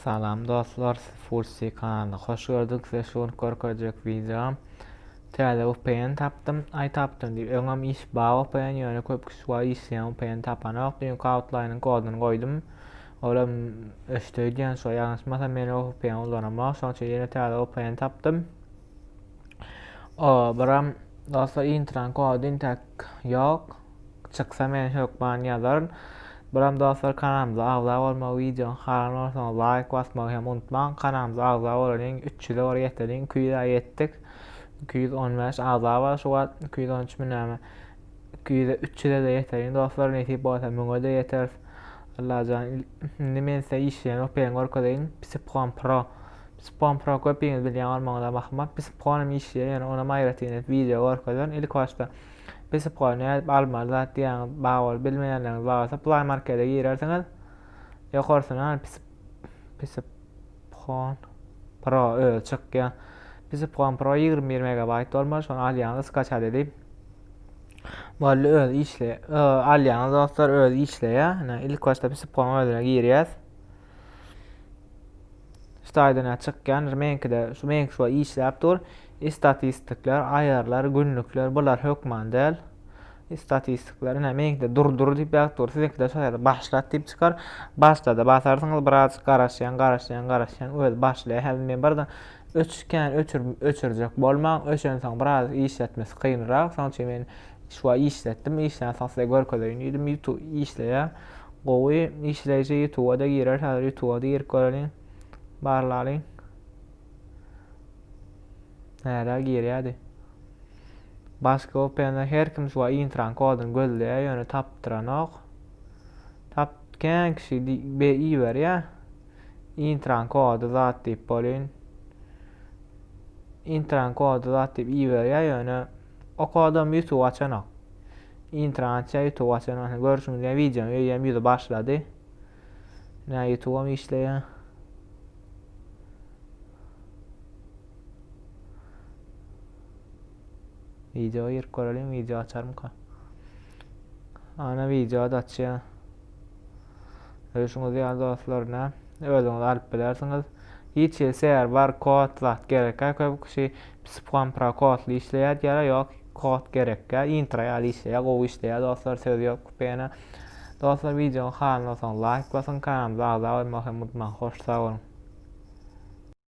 Salam dostlar, Fulsi kanalyna hoş gördük. Size şu gün görkezjek videom. Täze VPN tapdym. Ay tapdym diýip. Öňem iş ba VPN ýöne köp kişi wa işleýän VPN tapanok. Düýnki outline koduny goýdum. Olam öşde diýen şu ýalňyşmasam men o VPN ulanamok. Şonuň üçin ýene täze VPN tapdym. O, biram dostlar intrany kody intäk ýok. Çyksa men hökman ýazaryn. Biram dostlar kanalymyza agza bolmagy, wideony halan bolsaňyz laýk basmagy hem unutmaň. Kanalymyza agza bolalyň, 300-e bar ýeteliň, 200-e ýetdik. 215 agza bar şu wagt, 213 mi näme. iki ýüze üç ýüze-de ýeterin dostlar nesip bolsa müňe-de ýeteris Allajan indi men size işleýän öperini görkezeýin Psipkon pro Psipkon pro köpiňiz bilýän bolmagyňyza bahma Psipkonym işleýär ýöne onam aýratyn wideo görkezerin ilk başda Psipkony nädip almaly zat diýýäňiz bar bolup bilmeýänleriňiz bar bolsa play markete girersiňiz ýokarsyna Psip Psip Phone Pro özi çykýar. Bizi Phone Pro 21 megabayt bolmaly, şony alýaňyz, skaçat edip. Boldy öz işle. Alýaňyz dostlar öz işleýär. Ine ilk başda biz Phone özüne girýäs. Staýdan çykýan, meňkide şu meňki şu işläp dur. Istatistikler, aýarlar, günlükler bular hökman däl. Statistiklary näme ýeňde dur dur diýip ýazyp dur. Siziňki de şol ýaly başlat diýip çykar. Başlada basarsyňyz biraz garaşýaň garaşýaň garaşýaň öz başlaýar. Häzir men birden öçükän öçür öçürjek bolmaň. Öçensoň biraz işletmesi kynrak. Soň üçin men şuwa işletdim. Işlän soň size görkezeýin diýdim. Ýutu işleýär. Gowy işleýji ýutuba da girer. Häzir ýutuba da girip göreliň. Barlalyň. Nära girýärdi. Başga OPN-de her kim şu intran koduny gözleýär, ýöne tapdyranok. Tap kän kişi be iberýär. Intran kody zat diýip bolýan. Intran kody zat diýip iberýär, ýöne o kodam YouTube açanok. Intran açýar, YouTube açanok. Görşüňiz ýa videoň öýem ýüzi başlady. Nä ýutubam işleýä. Video girip göreliň, video açarmyka. Ana video da açýa. Öýşüňiz ýa dostlar nä? Özüňiz alyp bilersiňiz. Hiç ýeri serwer, kod zat gerekkä köp kişi psipkam pro kodly işleýär diýýär, ýok. Kod gerekkä intro ýaly işleýä gowy işleýä dostlar söz ýok kupena dostlar wideonyň halyna soň laýk basyň kanalymyza agza bolmagy hem unutmaň hoş sag boluň.